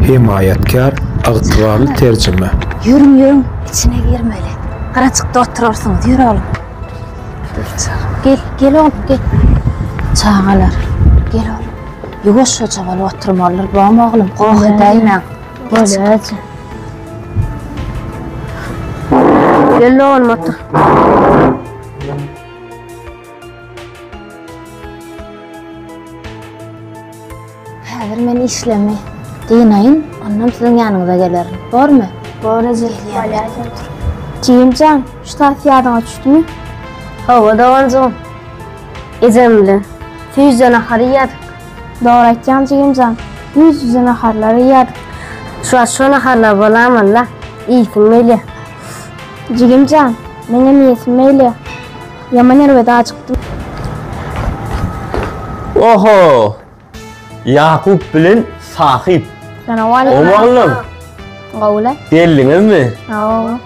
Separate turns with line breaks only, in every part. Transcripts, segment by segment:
Hemaýatkär ygtybarly terjime. Ýörüň ýörüň içine girmeli. Gyrajykda oturarsyňyz ýör oglum. Gel gel oglum gel. Çagalar gel oglum. Ýuwaşjaja bolup oturmalydyr bom oglum goh edäýmäň. Bolýaje. Gel oglum otur. Häzir men işlemi dynaýyn, ondan siziň ýanyňyza gelerin. Bormy? Bor eje, Ýalýa sen tur. Jigim jan, şu tas ýadyňa düşdümi? Hawa, doganjygym. Ejem bilen süýjde nahar iýýädik. Dogry aýtýaň jigim jan, ýüz-ýüze naharlar iýýädik. Şu wagt şo naharlar bolamanda, iýsim gelýä. Jigim jan, meňem iýesim gelýä. Ýaman erbet ajykdym. Oho! Ýakup bilen Sahyp. Salamwaleýkum. Gowy oglum. Gowula. Geldiňizmi? Hawa.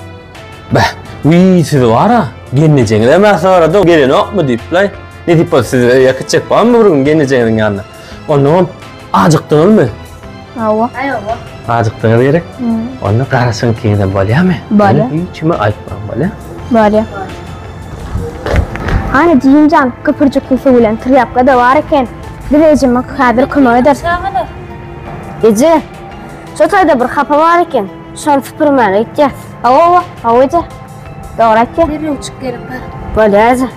Bäh, wiý siz bara, gelnejeňiz hem sorady, gelenokmy diýip laý. Ne diýip bolsa siz öýe kitjek barmy bir gün gelnejeňiziň ýanyna? Onnoň hem ajykdyňyzmy? Hawa. Hawa. Azykdyňyz gerek. Onda garaşyň kine bolýamy? Bolýa. Hiç kime aýtmaň bolýa. Bolýa. Ana jimjan köpürjikli suw bilen trýapka da bar eken. Biz ejeme häzir kömek ederis. Eje. Şu taýda bir hapa bar eken. Şony süpürmäge gitýäs. Hawa, hawa eje. Dogry aýtýaň. Derrew çyk gerek bar. Bolýa eje.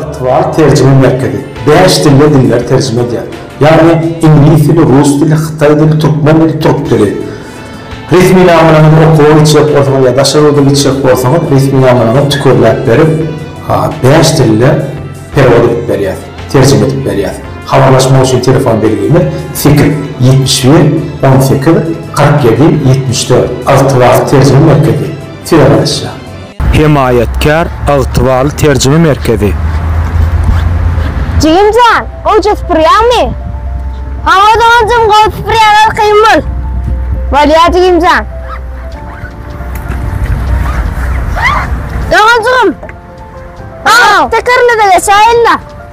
Ygtybar terjime merkezi bäş dilde dilleri terjime edýär. Ýagny, iňlis dili, rus dili, hytaý dili, türkmen dili, türk dili. Resminamalaryňyzy okuwa gitjek bolsaňyz ýa daşary ýurda gitjek bolsaňyz, resminamalaryňyzy tükelläp berip, bäş dilde perewod edip berýär, terjime edip berýär. Habarlaşmak üçin telefon belgimiz, sekiz, ýetmiş bir, on sekiz, kyrk ýedi, ýetmiş dört. Ygtybar terjime merkezi, Tire-Garaşja. Hemaýatkär ygtybarly terjime merkezi. Jigim jan, gowja sypyrýaňmy? Hawa doganjym, gowy sypyrýan arkaýyn bol. Bolýar jigim jan. Doganjygym, hawa, tekerine-de geçäýin-le.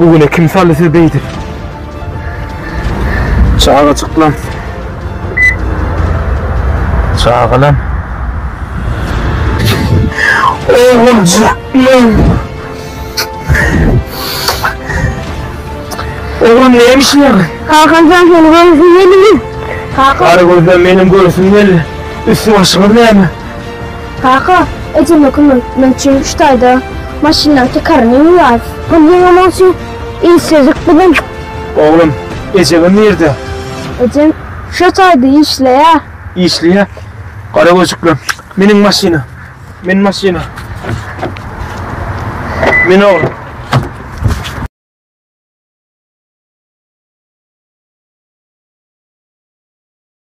Bu güne kim saly siz beýdip? Çagajyklar. Çagalar. Oğlumcuklar. Oğlum neymiş lan? Hakan sen seni görsün gelin. Hakan. Karı gözden benim görsün gelin. Üstü başımız neymiş? Kaka, ejeme kömek etmek üçin şu taýda maşynlaryň tekaryny ýuwýarys. Pul ýygnamak üçin işledik biziň. Oglum, ejeňem nirde? Ejem şo taýda işleýär. Işleýär? Gara gözükli. Miniň maşyna. Min maşyna. Min oglum.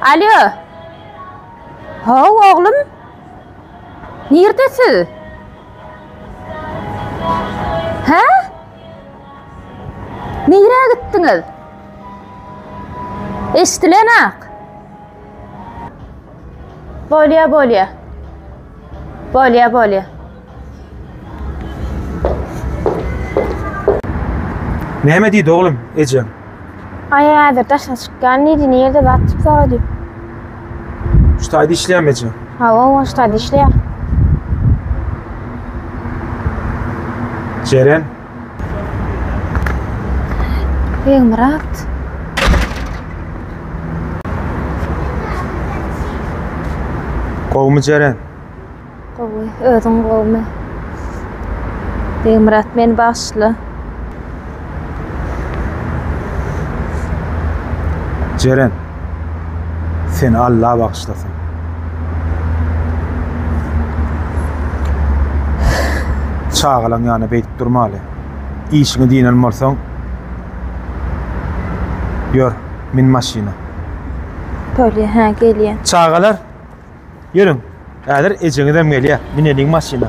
Alýo. Haw, oglum. Nirde siz? Hä? Nirä gitdiňiz? Eşdilenak. Bolýa, bolýa. Bolýa, bolýa. Näme diýdi oglum ejeň? Aý häzir daşa çykýan diýdi, nirde zat diýip sorady. Ştaýda işleýämi eje? Hawa, o ştaýda işleýär. Jeren. Begmyrat. Gowumy Jeren? Gowy, özüň gowmy? Begmyrat meni bagyşla. Jeren. Seni Allah bagyşlasyn. Çagalaň ýanyna beýdip durmaly. Işiňi diýnen bolsaň, ýör, min maşyna. Bolýar, hä, gelýän. Çagalar, Ýörüň. Häzir ejeňizem gelýär. Mineliň maşyna.